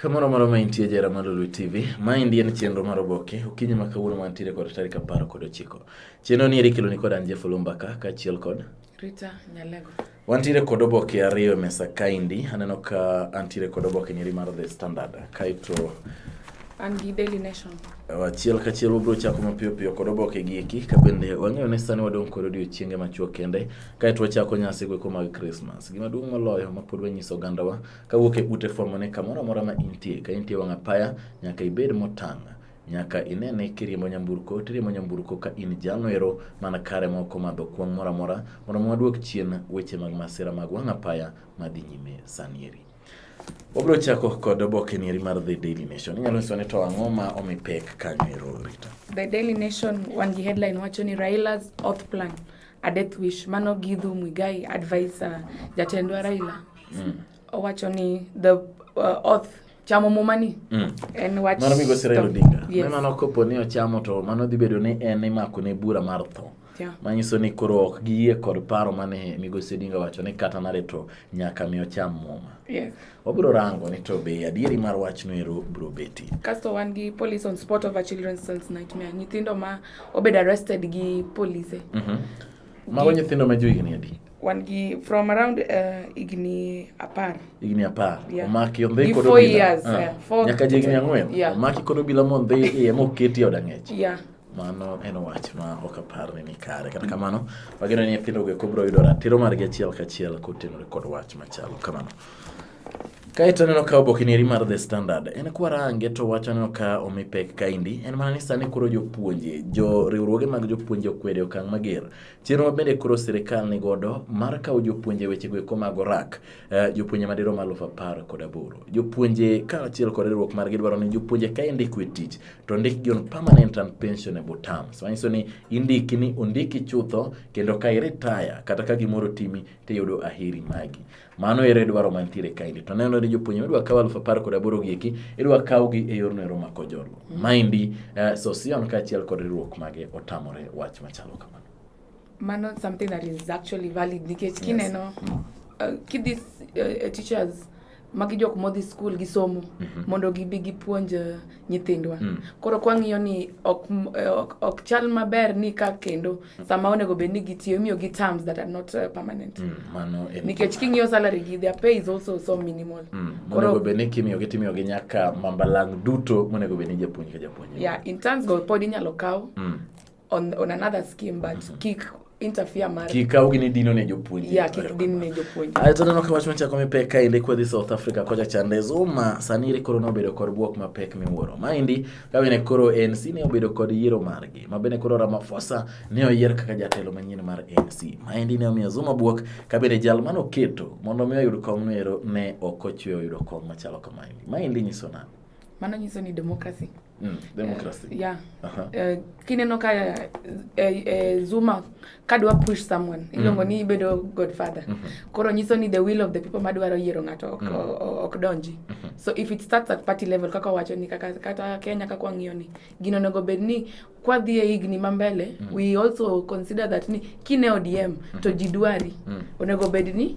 Kamoro moro ma intie jera mar Lulu TV, maendi en chenro mar oboke okinyi ma kawuono mantiere kod tarik apar kod ochiko. Chenro ni eri keloni kod an Jeff Olumbaka kaachiel kod Rita Nyalego. Wantiere kod oboke ariyo e mesa kaendi, aneno ka antiere kod oboke nyeri mar The Standard kaeto an gi Daily Nation. Achiel kachiel wabiro chako mapiyo piyo kod oboke gi eki ka bende wang'eyo ni sani wadong' kod odiochienge machuok kende kaeto wachako nyasi goeko mag Christmas. Gima duong' moloyo ma pod wanyiso ogandawa Kawuok e ute fwambo ne kamoro amora ma intie, ka intie wang' apaya, nyaka ibed motang' nyaka ine ni kiriembo nyamburko tiriembo nyamburko ka in jalo ero mana kare ma ok omadho kwong' moro amora mondo mi waduok chien weche mag masira mag wang' apaya madhi nyime sanieri. Wabiro chako kod oboke nieri mar The Daily Nation. Inyalo nyiso ni to ang'o ma omi pek kanyo ero Rita? The Daily Nation wan gi headline wacho ni Raila's oath plan a death wish mano Githu Muigai advisor jatendwa Raila. mm. owacho ni the uh, oath chamo muma ni mm. en wach mano migo sira odinga yes. mano kopo ni ochamo to mano dhi bedo ni en imako ne bura mar tho yeah. manyiso ni koro ok giyie kod paro mane migosi odinga wacho ni kata nare to nyaka mi ocham muma yes. wabiro rango ni to be adieri mar wachno ero biro beti kasto wan gi police on spot of a children's son's nightmare nyithindo ma obed arrested gi police mm -hmm. mago nyithindo ma johigni adi wan gi from around uh, igni apar igni apar yeah. omaki ondhi kod obila uh, yeah. Four, nyaka ji igni ang'wen yeah. omaki kod obila mondhi iye moketi od ang'ech yeah. mano en wach ma ok apar ni ni kare kata kamano wageno ni nyithindo go kobro yudo ratiro margi achiel kachiel kotenore kod wach machalo kamano Kaeto aneno ka obokineri mar The Standard en kwarange to wach aneno ka omi pek kaindi en mana ni sani koro jopuonje jo riwruoge mag jopuonje okwede okang' mager Chenro ma bende koro sirikal ni godo mar kawo jopuonje wechego eko mag orak, eh, jopuonje madirom aluf apar kod aboro. Jopuonje kaachiel kod riwruok margi dwaro ni jopuonje ka indiko e tich to ondikgi on permanent and pensionable terms. Manyiso ni indiki ni ondiki chutho kendo ka iretire kata ka gimoro otimi tiyudo aheri magi. Mano ere dwaro mantiere kaendi. To neno ni jopuonjre idwa kaw aluf apar kod aboro gi eki, idwa kawgi e yorno ero mako jolo. Mm. Maendi uh, Sosion kaachiel kod riwruok mage otamore wach machalo kamano. Mano something that is actually valid nikech kineno yes. Mm. uh, kidhi uh, teachers magi jok modhi skul gisomo mm -hmm. mondo gibi gipuonj uh, nyithindwa mm. koro kwang'iyo ni ok, ok, ok chal maber ni ka kendo mm. sama onego bed ni gitiyo imiyo gi terms that are not uh, permanent mm. mano nikech king'iyo salary gi their pay is also so minimal mm. onego bed ni kimiyo gi timiyo gi nyaka mambalang duto monego bed ni japuonj ka japuonj yeah in terms go pod inyalo kaw mm. on, on another scheme but mm -hmm. kik interfere mar kika ugi ni dino ne jopuonje ya kik din ne jopuonje ayo to neno kawach machako mi pek ka inde kwedhi South Africa kocha chande zuma sani ri koro nobedo kod bwok ma pek miwuoro ma indi ka bene koro ANC ne obedo kod yiero margi ma bene koro Ramaphosa ne oyier kaka jatelo manyien mar ANC ma indi ne omiyo zuma bwok ka bene jal mano keto mondo mi oyud kom nero ne ok ochwe oyudo kom machalo kamaini ma indi nyiso nani mano nyiso ni democracy Mm, democracy. Uh, yeah. Uh-huh. Uh, kineno ka uh, uh, Zuma kadwa push someone mm. iluongo mm. ni ibedo godfather mm -hmm. koro nyiso ni the will of the people madwaro yiero ng'ato ok, mm. ok donji mm -hmm. so if it starts at party level kaka wacho ni kaka kata Kenya kaka wang'iyo ni gino onego bed ni kwadhi e higni ma mbele mm. we also consider that ni kine ODM mm -hmm. to jidwari mm. onego bed ni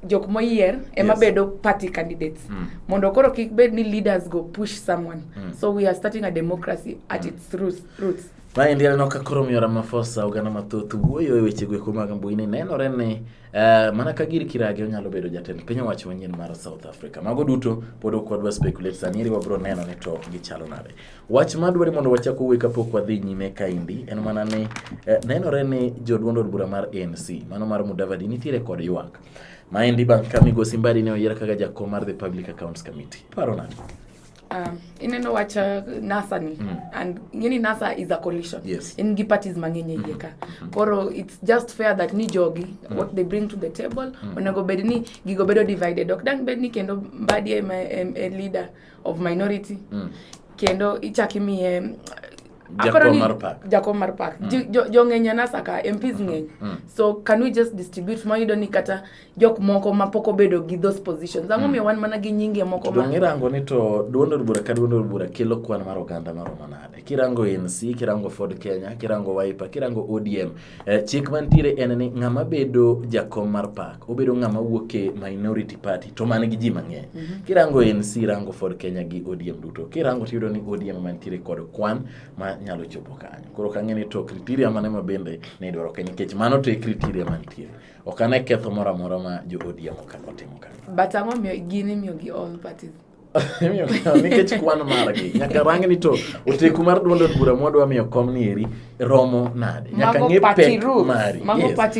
jok moyier ema yes. bedo party candidates mm. mondo koro kik bed ni leaders go push someone mm. so we are starting a democracy at mm. its roots, roots. Maendi aneno ka koro miyo Ramaphosa oganda mathoth wuoyo e weche gweko mag mbui ni nenore ni uh, mana ka gir kirage onyalo bedo jatend piny owacho manyien mar South Africa. Mago duto pod ok wadwa speculate sani iri wabiro neno ni to gichalo nade. Wach madwari mondo wachak owuoye kapok wadhi nyime kaendi en mana ni eh, nenore ni joduond od bura mar ANC mano mar Mudavadi nitiere kod ywak maendi bang' ka Migosi Mbadi ne oyier kaka jakom mar the Public Accounts Committee. Paro nani? Um, ineno wach uh, NASA ni mm. and ngeni NASA is a coalition yes. in gi parties mang'eny mm. ka mm. koro it's just fair that ni jogi mm. what they bring to the table mm. onego bed ni gigo bedo divided ok dang bed ni kendo Mbadi ema e, e, e leader of minority mm. kendo ichak imiye jakom mar park mm. jong'eny jo anasa ka mps mm-hmm. ng'eny mm. so can we just distribute mayudo ni kata jok moko ma pok obedo gi those positions ang'o mm. miyo wan mana gi nyinge moko ma irango ni to duond od bura ka duond od bura kelo kwan mar oganda maromo nade kirango nc kirango ford kenya kirango wiper kirango odm Eh, chik mantiere en ni ng'ama bedo jakom mar pak obedo ng'ama wuok e minority party to man gi ji mang'eny mm -hmm. kirango NC rango Ford Kenya gi ODM duto kirango tiyudo ni ODM mantiere kod kwan ma nyalo chopo kanyo koro kang'e ni to criteria mane ma bende ne idwaro ke nikech mano to e criteria mantiere ok ane ketho moro amora ma jo ODM okano timo kanyo but ang'o gini miyo gi all parties Miyo kom nikech kwano margi nyaka rang ni to oteku mar duond od bura mwadwa miyo kom ni eri romo nade nyaka ng'e pek mari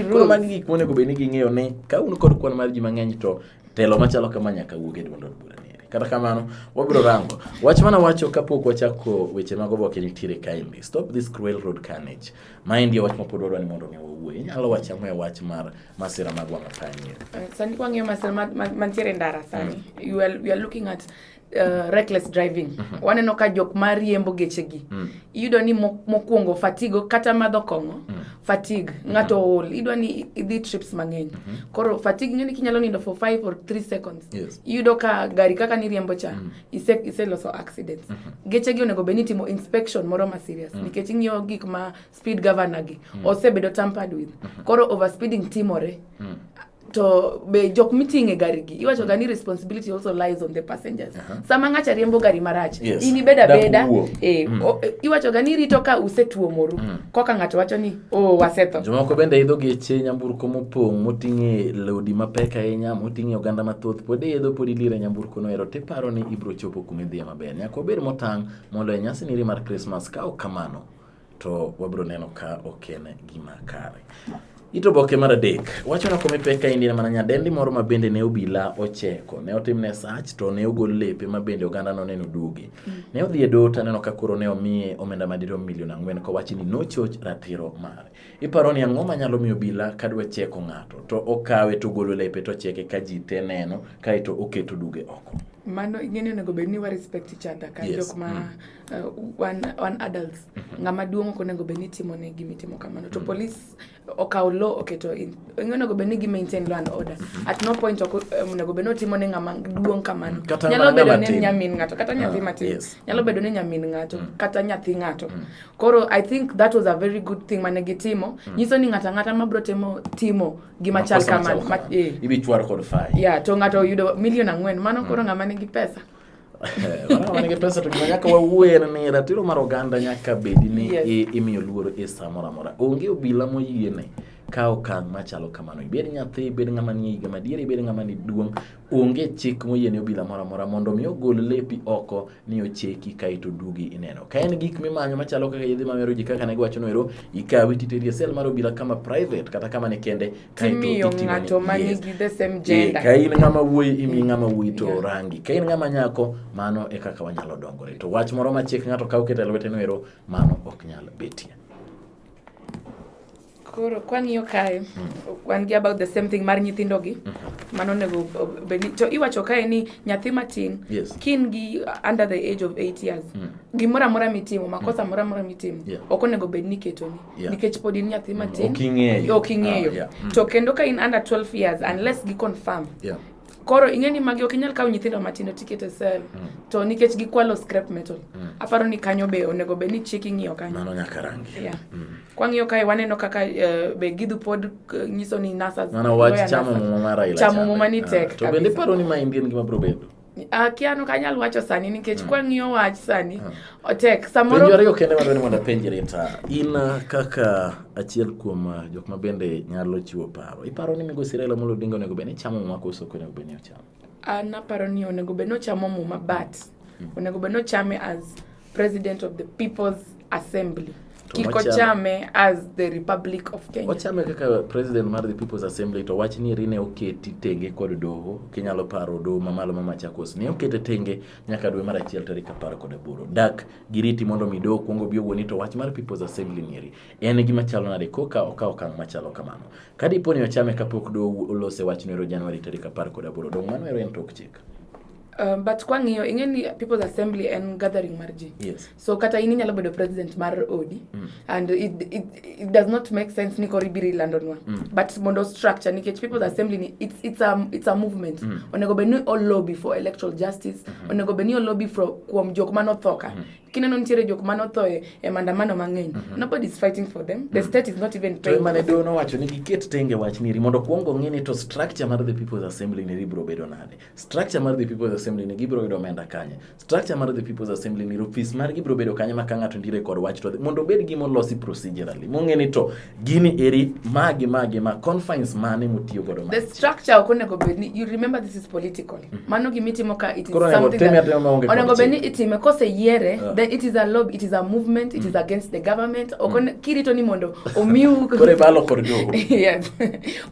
koro magi gik monego bed ni ging'eyo ni ka un kod kwan mar ji mang'eny to telo machalo kama nyaka wuog e duond od bura ni eri kata kamano wabiro rango wach mana wacho kapok wachako weche mag oboke nitiere kaendi stop this cruel road carnage maendi e wach mapod wadwa ni mondo mi wawuoye inyalo wacho ang'o e wach mar masira mag wang' apaya nyien. Uh, sani kwang'iyo masira mantiere ndara sani mm. you are, you are looking at Uh, reckless driving mm -hmm. waneno ka jok ma riembo gechegi mm. iyudo ni mokwongo fatigo kata madho kong'o mm. fatigue mm -hmm. ng'ato ol idwa ni idhi trips mang'eny mm -hmm. koro fatigue ng'eni kinyalo nindo for 5 or 3 seconds yes. iyudo ka gari kaka niriembo cha mm. ise, ise loso accidents mm -hmm. gechegi onego bed ni timo inspection moro ma serious mm. nikech ing'iyo gik ma speed governor gi mm. osebedo tampered with mm -hmm. koro overspeeding timore mm. to be jok miting'o e gari gi iwacho ga ni responsibility also lies on the passengers uh -huh. sama ng'acha riembo gari marach yes. in ibed abeda e, mm. o, e, iwacho ga ni rito ka usetuomoru mm. koka ng'ato wacho ni o oh, wasetho jomoko bende idho geche nyamburko mopong' moting'e lodi mapek ahinya moting'e oganda mathoth pod iidho pod ilire nyamburko no ero tiparo ni ibro chopo kuma idhiye maber nyaka obed motang' mondo e nyasi niri mar krismas ka ok kamano to wabiro neno ka ok en gima kare. It oboke mar adek wacho na kome pek ka indien mana nyadendi moro ma bende ne obila ocheko ne otimne sach to ne ogol lepe ma bende oganda no neno duogi mm. ne odhi e dot aneno ka koro ne omiye omenda madirom milion ang'wen kowachi ni nochoch ratiro mare iparo ni ang'o manyalo miyo obila ka dwa cheko ng'ato to okawe to ogolo lepe to cheke ka ji te neno kaeto oketo duge oko mano ing'eni onego bed ni wa respect each other ka yes. jok ma mm. Uh, wan, wan adults mm -hmm. ng'ama duong' ok onego bed ni timo ne gimi timo kamano to mm -hmm. police okawo law oketo in onego bed ni gi maintain law and order mm -hmm. at no point ok um, onego bed ni otimo ne ng'ama duong' kamano kata nyalo bedo ni nyamin ng'ato kata ah, nyathi uh, matin yes. nyalo bedo ni nyamin ng'ato mm -hmm. kata nyathi ng'ato mm -hmm. koro i think that was a very good thing mane gitimo mm -hmm. nyiso ni ng'ata ng'ata mabro timo timo gima chal kamano ma, eh. ibi chwar kod fai yeah to ng'ato yudo milion ang'wen mano mm -hmm. koro ng'ama nigi pesa Wana wanige pesa to gima nyaka wawuoye en ni ratiro mar oganda nyaka bedi ni Yes. i- imiyo luor e sa moro amora. Onge obila moyiene kawo okang' machalo kamano. Ibed nyathi, ibed ng'ama nie higa madiere, ibed ng'ama ni duong', onge chik moyiene obila moro amora mondo mi ogol lepi oko ni ocheki kaeto dugi ineno. Ka en gik mimanyo machalo kaka yedhe mamero ji kaka ne giwacho noero, ikawi titeri e sel mar obila kama private kata kama ne kende timiyo ng'ato ma nigi the same gender. Ka in ng'ama wuoyi imi ng'ama wuoyi to yeah. rangi. Ka in ng'ama nyako mano e kaka wanyalo dongore. To wach moro ma chik ng'ato kaw keto e lwete no ero mano ok nyal betie. Koro kwang'iyo kae mm. wan gi about the same thing mar nyithindo gi mm -hmm. mano nego beni to iwacho kae ni nyathi matin yes. kin gi under the age of 8 years mm. gimoro amora mitimo makosa mm. moro amora mitimo yeah. ok onego bed ni ketoni Yeah. nikech pod in nyathi mm-hmm. matin ok ing'eyo ok ing'eyo ah, yeah. mm. to kendo ka in under 12 years unless gi confirm yeah. koro ing'e ni magi ok inyal kawo nyithindo matindo tiket e sel mm. to nikech gikwalo scrap metal mm. aparo ni kanyo be onego bed ni chik ing'iyo kanyo mano nyaka rangi yeah. mm. kwang'iyo kae waneno kaka uh, be gidhu pod uh, nyiso ni nasas mano wach chamo muma mara ila chamo muma ni ah, tek uh, to bende paro ni ma indien gima bro bedo Akia no kanyal wacho sani nikech mm. kwang'iyo wach sani mm. otek samoro penjo ariyo kende madwani mondo apenjri ta in uh, kaka achiel kuom uh, jok ma bende nyalo chiwo paro iparo ni migosi Raila Amolo Odinga onego bed ni chamo muma koso ok onego bed ni ochamo an aparo ni onego bed ni ochamo muma but mm. onego bed ni ochame as President of the People's Assembly. Kiko Chame as the Republic of Kenya. Ochame kaka president mar the People's Assembly to wach ni rine oketi tenge kod doho kinyalo paro doho mamalo ma Machakos ne okete tenge nyaka dwe mar achiel tarik apar kod aboro. Dak giriti mondo mi doho kwongo bi owuoni to wach mar People's Assembly nieri en gima chalo nade koka okawo okang' machalo kamano. Ka dipo ni ochame kapok doho olose wach nwero Januari tarik apar kod aboro dong' mano ero en tok chik. Um, but kwang'iyo ing'e ni people's assembly en gathering mar ji yes. so kata in inyalo bedo president mar odi mm. and it, it, it does not make sense ni koro ibiro ilandonwa mm. but mondo structure nikech people's assembly ni it's, it's, a, it's a movement mm. onego bed ni olobby for electoral justice mm -hmm. onego bed ni olobby kuom jok manothoka mm -hmm kineno nitiere jok mane otho e, e maandamano mang'eny mm -hmm. nobody is fighting for them the mm -hmm. state is not even paying mane dono wacho ni giket tenge wach niri mondo kwongo ng'e ni to structure mar the people's assembly niri biro bedo nade Structure mar the People's Assembly ni gibiro yudo omenda kanye? Structure mar the People's Assembly ni ofis mar gibiro bedo kanye ma ka ng'ato ndire kod wach to mondo obed gima olosi procedurally. Mong'e ni to gini eri magi magi ma confines mane mutiyo godo ma. The structure ok onego bed ni you remember this is political. Mm -hmm. Mano gima itimo ka it is Koro something that onego bed ni itime kose yiere yeah. then it is a lobby, it is a movement, it mm. is against the government. Ok mm. kirito ni mondo omiu Kore balo kor jogo. Yes.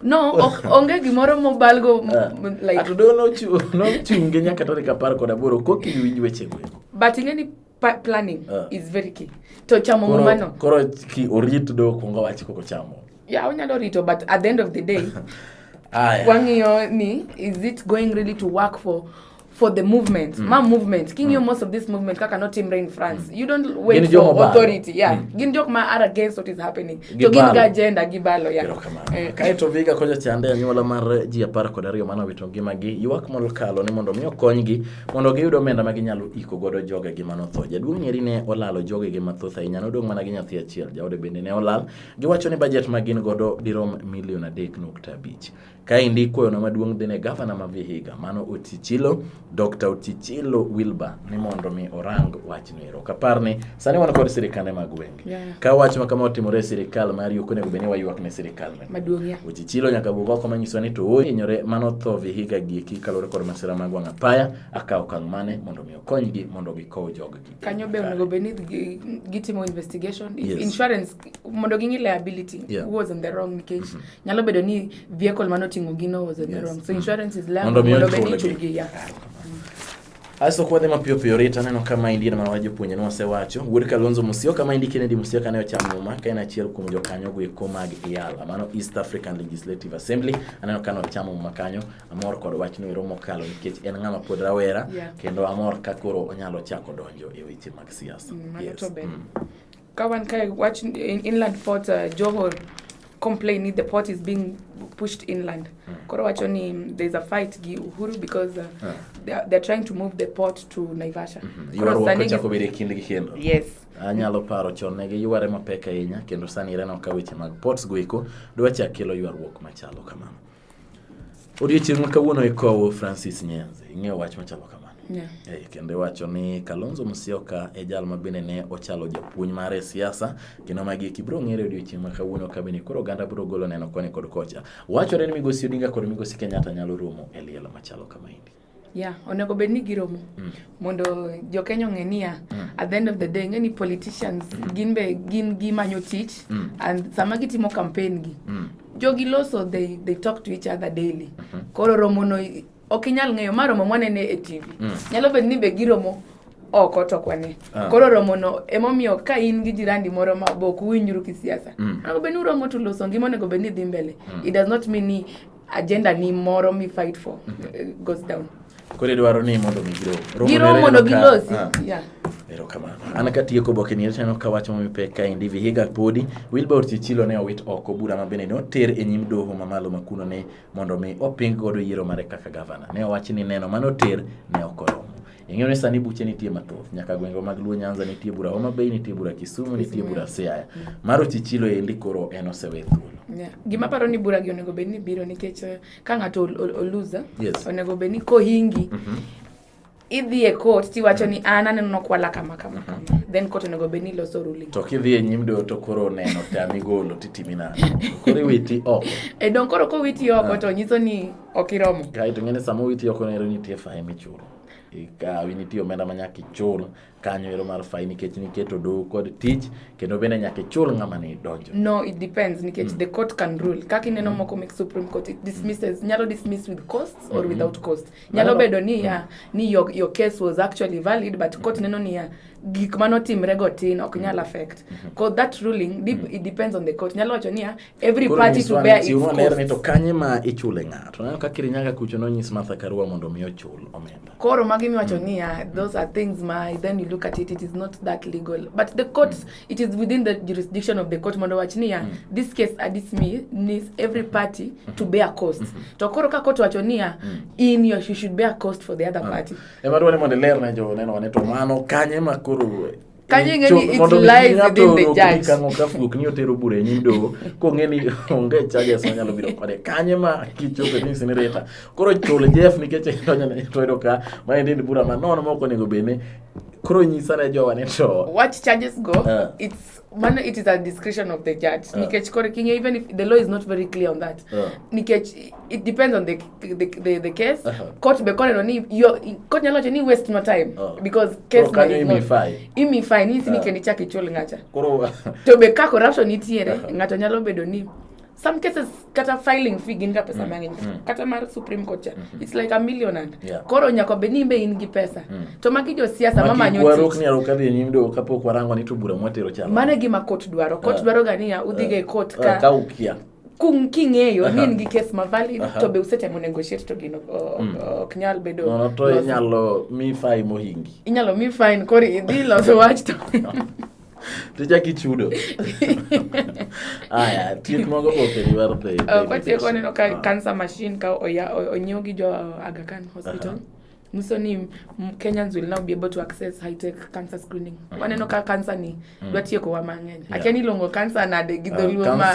No, ok, onge gimoro mobalgo m- Ah. m- like Ato doho nochu- nochunge nyaka tarik apar kod aboro koki iwinj weche go eko. but ing'e ni pa- planning Ah. is very key. To chamo Koro- mumano. Koro ki orit doho kuongo wach koko chamo. Yeah, unyalo rito but at the end of the day Aya. wang'iyo ni is it going really to work for for the movement mm. ma movement king mm. you most of this movement kaka not team rain france mm. you don't wait gin for ba. authority yeah mm. gin jok ma are against what is happening gibalo. to gin ga agenda gibalo ya yeah. eh. kae to viga koja chande anyuola mar ji apar kod ariyo mano wito ngimagi ywak molokalo ni mondo mi okonygi mondo giyud omenda ma ginyalo iko godo jogegi mano tho jaduong' nyeri ne olalo jogegi mathoth ahinya nodong' mana gi nyathi achiel jaode bende ne olal giwacho ni bajet ma gin godo dirom milion adek nukta abich Kaendi ikwayono maduong' dhi ne gavana ma Vihiga mano Otichilo, Dr. Otichilo Wilbur ni mondo mi orang wachno ero. Kapar ni sani wan kod sirikande mag gwenge. Yeah. Ka wach ma kama otimore e sirikal mar yuko onego bed ni waywak ne sirikal meno. Maduong' ya. Otichilo nyaka wuog oko manyiso ni to ohinyore mano tho Vihiga gieki kaluwore kod masira mag wang' apaya akawo okang' mane mondo mi okonygi mondo gikow joggi. Kanyo be onego bed ni gitimo investigation if yes. insurance mondo ging'i liability yeah. who was in the wrong nikech mm -hmm. nyalo bedo ni vehicle mane oting'o gino was in yes. the wrong so insurance is liable mondo bed ni chulgi ya Aso kwa dhema pio pio rita neno kama indi na mawajo puonye ni wasewacho. Wuod Kalonzo Musyoka kama indi Kennedy Musyoka ne ochamo ma ka en achiel kuom jokanyo go eko mag IALA mano East African Legislative Assembly aneno kano ochamo ma kanyo amor kod wach no romo kalo nikech en ng'ama pod rawera yeah. kendo amor ka koro onyalo chako donjo e weche mag siasa. Mm, yes. mm. Ka wan kae wach inland port uh, Johor complain ni the port is being pushed inland. Hmm. Koro wacho ni there's a fight gi Uhuru because uh, yeah. they, are, they're trying to move the port to Naivasha. Mm -hmm. Koro sani chako bedo kinde gi kendo. Yes. Anyalo paro chon ne gi yware mapek ahinya kendo sani ireno ka weche mag ports go eko dwa chak kelo ywaruok machalo kamano. Odiochieng' ma kawuono ikowo Francis Nyenze, ing'eyo wach machalo kama. Yeah. Eh, kendo iwacho ni Kalonzo Musyoka e jal ma bende ne ochalo japuonj mare e siasa kendo magi eki biro ng'ere odiochieng' ma kawuono ka bende koro oganda biro golo neno koni kod kocha. Wachore ni Migosi Odinga kod Migosi Kenyatta nyalo romo e liel machalo kama endi. Yeah, onego bed ni giromo mm. mondo jokenya ong'e niya mm. at the end of the day ng'e ni politicians mm. gin be gin gimanyo tich mm. and sama gitimo campaign gi mm. jogi loso they, they talk to each other daily mm -hmm. koro romono ok inyal ng'eyo ma romo mwanene e tv mm. nyalo bed ni be giromo oko to kwane ah. koro romono emomiyo ka in gi jirandi moro ma bok uwinjru kisiasa mm. onego bed ni uromo to loso ngima onego bed ni dhi mbele mm. it does not mean ni agenda ni moro mi fight for uh, goes down kore dwaro ni mondo mi giro Romo giro nere mondo neno ka- gilosi ah, yeah. erokamano an katieko oboke ni aneno ka wach momi pek kaendi vihiga podi wilbur chichilo ne owit oko bura ma bende ne oter e nyim doho mamalo ma kuno ne mondo mi oping godo yiero mare kaka gavana ne owach ni neno mane oter ne ok oromo Ing'eyo ni sani buche nitie mathoth, nyaka gwengwa mag Luo Nyanza nitie bura Homa Bay, nitie bura Kisumu, nitie bura Siaya. Mar Ochichilo endi koro en osewe thuolo. Yeah. Gima paro ni bura gi onego bed ni biro nikech eh, ka ng'ato oluza yes. onego bed ni kohingi mm -hmm. idhi e court tiwacho ni an aneno nokwala kama kama kama mm -hmm. then court onego bed ni loso ruling to kidhi e nyim doho to koro oneno tami golo titimi nano koro iwiti oko e don koro kowiti oko ah. to nyiso ni ok iromo kae to ng'eni sama owiti oko nero nitie fae michulo ikawi nitie omenda ma nyaka ichul kanyo ero mar fai nikech niketo doho kod tich kendo bende nyaka ichul ng'ama ne idonjo no it depends nikech mm. the court can rule kaka ineno mm. moko mek supreme court it dismisses nyalo dismiss with costs or mm -hmm. without cost nyalo no, bedo ni ya mm. ni your, your case was actually valid but court neno ni ya gik manotimre go tin ok nyal mm. affect mm -hmm. that ruling deep, mm. it depends on the court nyalo wacho ni ya every party to bear its cost. Ler ni to kanye ma ichule ng'ato. Naneno ka Kirinyaga kucho nonyis Martha Karua mondo mi ochul omenda. Koro magi miwacho mm. niya, ah, those are things my then you look at it, it is not that legal. But the courts, mm. it is within the jurisdiction of the court mondo wach niya, ah, mm. this case at this me needs every party mm-hmm. to bear cost. Mm -hmm. To koro ka court wacho niya, ah, mm. in your you should bear cost for the other ah. party. Ema dwani mondo ler ne jo neno ne to mano kanye ma koro kanyengeniitlieswithinthejudgekni otero bura e nyim doho kong'e ni onge charges manyalo biro kode kanye ma kichope ni sinirita koro chul jeff nikech idonjone to yudo ka ma endi ni bura manono ma ok onego bed ni koro nyisa ne jowa ni to what charges go uh. it's mano it is a discretion of the judge uh. nikech koro king'e even if the law is not very clear on that uh. nikech it depends on the the the, the case uh -huh. court be called on ni yo court nyalo ni waste my time oh. because case oh, can you me fine imi fine ni sini uh. Ah. kendi chake chol ngacha koro to be ka corruption nitiere uh -huh. ngato nyalo bedo ni some cases kata filing fee gin ga pesa mm. mang'eny mm. kata mar supreme court cha mm -hmm. it's like a million and yeah. koro nyako be ni be in gi pesa mm. to magi jo siasa mama nyoto warok ni aroka dhi nyim do kapo kwarango ni tubura mwatero cha mane gima court dwaro court uh, dwaro ga niya udhi uh, ga court uh, ka uh, ka ukia kung king'eyo uh -huh. ni in gi kes ma valid uh -huh. to be usetemo negotiate to gino ok mm. ok nyal bedo no, no, to inyalo mi fine mohingi inyalo mi fine koro idhi loso wach to tichak ichudo aya thieth mago boke riwar the uh, kwatieko neno ka uh -huh. cancer machine ka onyiew gi jo Aga Khan hospital uh -huh. musoni kenyans will now be able to access high tech cancer screening mm. waneno ka cancer ni mm. dwa tieko wa mang'eny yeah. akiani iluongo cancer nade gi ah, dholuo ma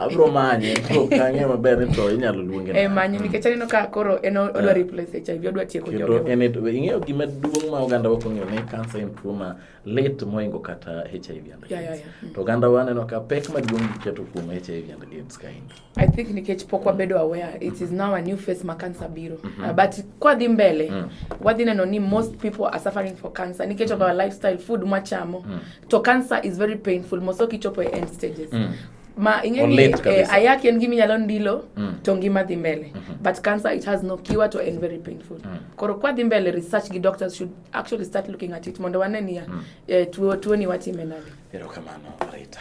abro manye to kang'e maber ni to inyalo luonge eh manye nikech aneno ka koro en odwa ah. replace HIV odwa tieko jogo en ing'eyo gima duong' ma oganda wa kong'eyo ni cancer en tuo ma lit moingo kata HIV and AIDS yeah, yeah, yeah. Mm. to oganda wa aneno ka pek maduong' giketo kuom HIV and AIDS kaendi I think nikech pok mm. wabedo aware it is now a new face ma cancer biro mm -hmm. uh, but kwa dhi mbele mm. wadhi neno ni most people are suffering for cancer nikech of our lifestyle food mwachamo mm. to cancer is very painful moso kichopo e end stages mm ma ingeni eh, ayaki en gimi nyalo ndilo mm. to ngima dhi mbele mm -hmm. but cancer it has no cure to end very painful mm. koro kwa dhi mbele research gi doctors should actually start looking at it mondo wane niya mm. eh, tuo tuo ni watime nade erokamano Rita